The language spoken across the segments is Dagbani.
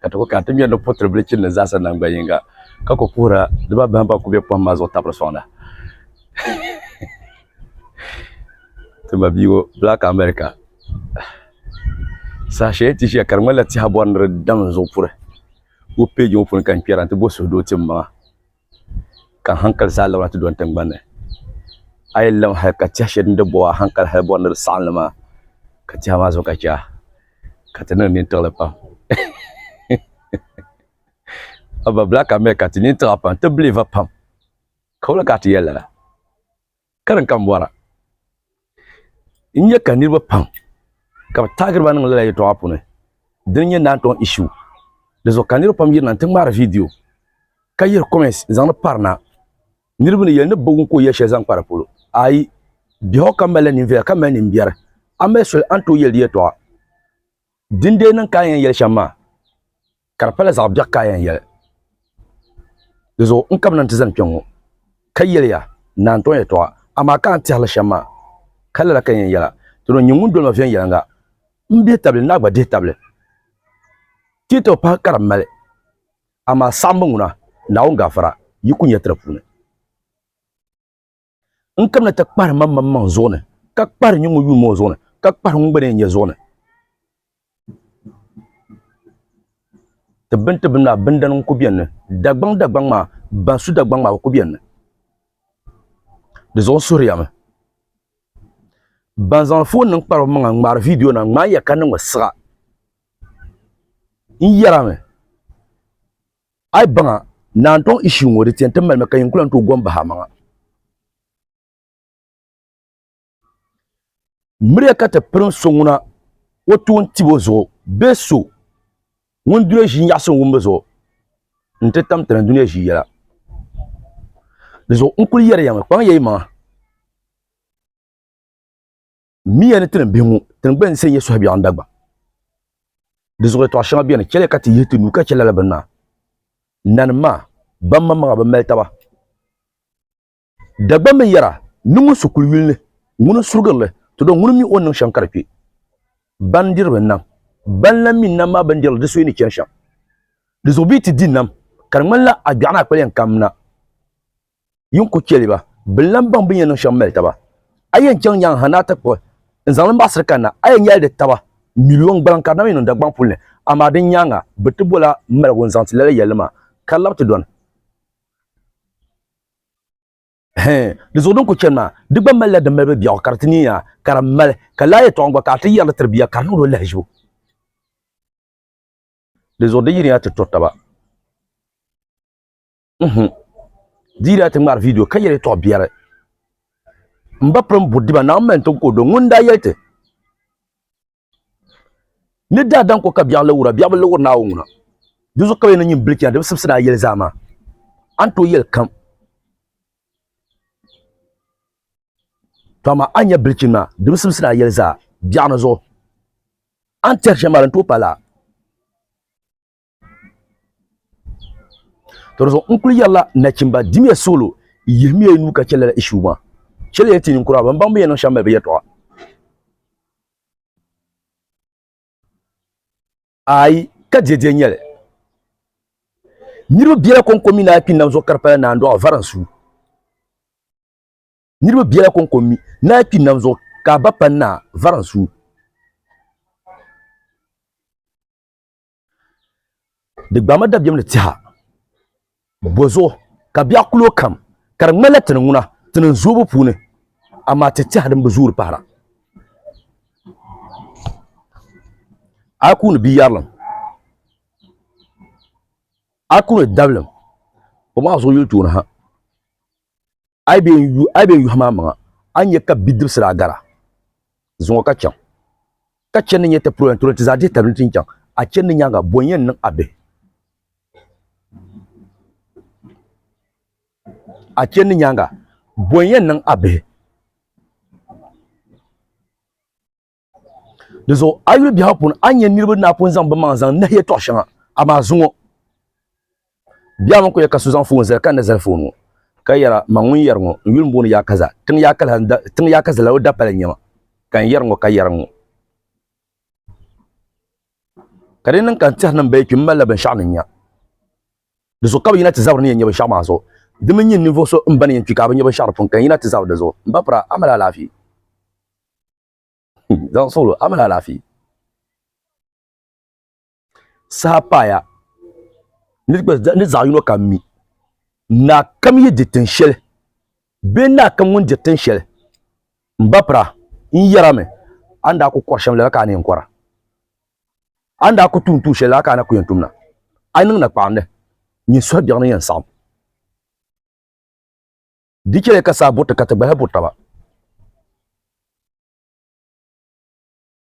ka ti ku kana ti ŋmɛri ni putiri bili chini ni zaasa naŋ gba yinga ka ku puhira dibaa bahim ban ku be pɔhim maa zuɣu tabiri sɔŋda. Ti ma bia ŋɔ Black America saha shɛli ti ʒiya ka di ŋmanila tiha bɔri ni di dam n-zuɣu puri. Wo page ŋɔ puuni ka n kpɛra nti bo suhudoo tim maŋa. ka hankali zaa labina ti do n tingbanni a yi lihi hali ka tihi shɛli din di boɣa hankali hali bori ni di saɣam li maa ka tihi maa zuɣu ka chɛya ka ti niŋ nini tiɣili pam a ba black america ti nini tiɣi a pam ti biliiva pam ka woli ka a ti yɛli lala Ka din kam bɔra, n nya ka niriba pam ka bɛ taagiri ba niŋ lala yɛltɔɣa puuni, dini n-nyɛ Nantɔn Issue. Di zuɣu ka niriba pam yirina nti ŋmaari viidiyo ka yihiri comments n-zaŋ di pari na. Niriba ni yɛli ni bɛ bi wum ka o yɛli shɛli zaŋ kpa di polo. Ayi, biɛhigu kam malila ninviɛla ka mali nimbiɛri. A mali soli a ni tooi yɛli di yɛltɔɣa. Din dee niŋ ka a yɛn yɛli shɛm maa, ka di pala zaɣ biɛɣu ka a yɛn yɛli. Di zuɣu n ka bɛ na nti zani kpe ŋ-ŋɔ, ka yɛli ya naantɔŋ yɛtɔɣa, amaa ka a ni tɛhiri li shɛm maa, ka lala ka n yɛn yɛl a, Dino n-nyɛ ŋun doli ma viɛnyɛliŋga, m bihi tabili ni a gba dihi tabili. Tiitɔbu pahi ka di mali, amaa saɣimbu ŋuna Naawuni gaafara yi ku nya ti di puuni. n kamina ti kpahiri mam mam maŋ zuɣu ni, ka kpahiri nyuŋ o yuuma o zuɣu ni, ka kpahiri ŋun gba ni yɛn nya zuɣu ni. Tibbini tibbini maa bindana n-ku beni ni, Dagbaŋ Dagbaŋ maa ban su Dagbaŋ maa bɛ ku beni ni. Di zuɣu n suhiri ya mi. Ban zaŋ foon nim kpari bɛ maŋa n-ŋmaari viidiyo nima ŋmaai ya ka niŋ mi siɣa n yɛra mi. Ai baŋa ni a ni tɔŋ issue ŋɔ di tiɛni ti malimi ka yin kulahi n-tooi gom bahi amaŋa. Miriya ka ti pirim so ŋuna o toon tib o zuɣu bee so ŋun dunia ʒii nyaɣisim wumbu zuɣu nti tam tana dunia ʒii yɛla. Di zuɣu n kul yɛri ya mi, kpaŋ ya yimaŋa. miya ni tinim bihi ŋɔ tingbani ni sɛ nyɛ suhu biɛɣu dagba di zuɣu yɛtɔɣa shɛŋa bɛni chɛliya ka ti yihi ti nuu ka chɛ lala bini maa nanim maa ban maŋmaŋa bi mali taba dagbaŋ mini yɛra ni ŋun su kuli yuli ni ŋuni n surigiri li ti dɔn ŋuni mi o ni niŋ shɛm ka di kpɛ ban diri bi nam ban lan mi nam maa bini dirili di suhi ni chɛni shɛm di zuɣu bɛ yi ti di nam ka di ŋmanila a biɛɣu ni a kpali yɛn kam na yi ni ku chɛ li ba, bɛ ni lan baŋ bɛ ni yɛn niŋ shɛm mali taba. A yɛn chaŋ nyaŋ ha ni a ti kpuɣi n zaŋ li n baɣisiri kanna, a yɛn nyɛli di taba miliɔn gbaliŋ ka di na mi niŋ Dagbaŋ puli ni, amaa din nyaaŋa bɛ ti bol a maligu n-zaŋ ti lala yɛlli maa, ka lab ti dɔni. Hɛɛn, di zuɣu din ku chani maa, di gba malila di malibu biɛɣu ka di ti niiya, ka di mali ka laa yɛtɔɣa gba ka a ti yɛri li tiri bia ka di niŋdi o lahiʒibu. Di zuɣu di yiriya ti to taba. mhm dira ti ŋmari video ka yɛli tɔɣ biɛri n ba piri n budiba na mɛn ti kodo ŋun daa yɛli ti ni daa dan ko ka biɛɣu lawura biɛɣu bi lawuri naawo ŋuna di zuɣu ka bi yɛn nyin bili chɛna di bi sibisi daa yɛli zaa maa a ni tooi yɛli kam tɔma a nyɛ bilichin maa di bi sibisi daa yɛli zaa biɛɣu ni zuɣu a ni tɛri shɛm maa di ni tooi pa laa to di zuɣu n kuli yɛrila nachimba dimiya solo yihimiya nu ka chɛ lala ishu maa chɛli ya ti ninkura ban baŋ bi yɛn niŋ shɛm mali bi yɛtɔɣa ayi ka dɛdɛ nyɛli niriba biɛla kɔŋko mi naa kpi nam zuɣu ka di pala naan dɔɣa vari n su niriba biɛla kɔŋko mi naa kpi nam zuɣu ka a ba pa naa vari n su di gbaami dabiɛm ni tiha bozuɣu ka biɛɣu kulo kam ka di ŋmanila tini ŋuna tini n zoobu puuni amaa ti tiha din bi zoori pahara a ku ni bia yarilim a ku ni dabilim o maa zuɣu yuli tooni ha a yi bee n yuhi maa maŋa a ni nya ka bidibisi daa gara zuŋɔ ka chaŋ, ka chani ni nyɛ ti puro yɛntɔri nti zaa dihi tabili nti ni chaŋ, a chani ni nyaaŋa bɔ n-yɛn niŋ a bihi? A chani ni nyaaŋa bɔ n-yɛn niŋ a bihi? dizuɣu a yuli biɛhigu puuni a nyɛ niriba ni a pun zaŋ bimaŋ zaŋ nahi yɛtɔɣ shɛŋa amaa zuŋɔ biɛhigu mini kuyɛ ka so zaŋ foon zali ka ni zali foon ŋɔ ka yɛra man ŋun yɛri ŋɔ n yuli m-booni yaa kaza tiŋ yaa kaza tiŋ yaa kaza lala o dapali n-nyɛma ka n yɛri ŋɔ ka yɛra ŋɔ ka di niŋ ka n tɛhiri ni m baya kpi m malila binshɛɣu ni nya dizuɣu ka bi yina ti zabiri ni yɛn nya binshɛɣu maa zuɣu di mi nyin ninvuɣ so m ba ni yɛn kpi ka a bi nya binshɛɣu di puuni ka yɛn yina ti zabiri di zuɣu m ba pira a mali alaafee Zaŋ suɣilo, a mali alaafee. Saha paaya ni zaɣ yino kam mi naa kam yi di tin shɛli bee naa kam ŋun diri tin shɛli n ba pira n yɛrimi a ni daa ku kɔri shɛm lala ka a ni yɛn kɔra a ni daa ku tuun tuun shɛli lala ka a na ku yɛn tumda a niŋ nakpaɣindi nyin suhu biɛɣuni yɛn saɣim Di chɛli ka saa bo ti ka ti gbahi bo taba.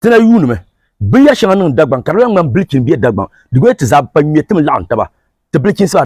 Ti na yuunimi binyɛr shɛŋa niŋ Dagbaŋ ka di lan ŋmani bilichini bee Dagbaŋ. Di goli ti zaa bi pa ŋme tim laɣim taba ti bilichinsi maa.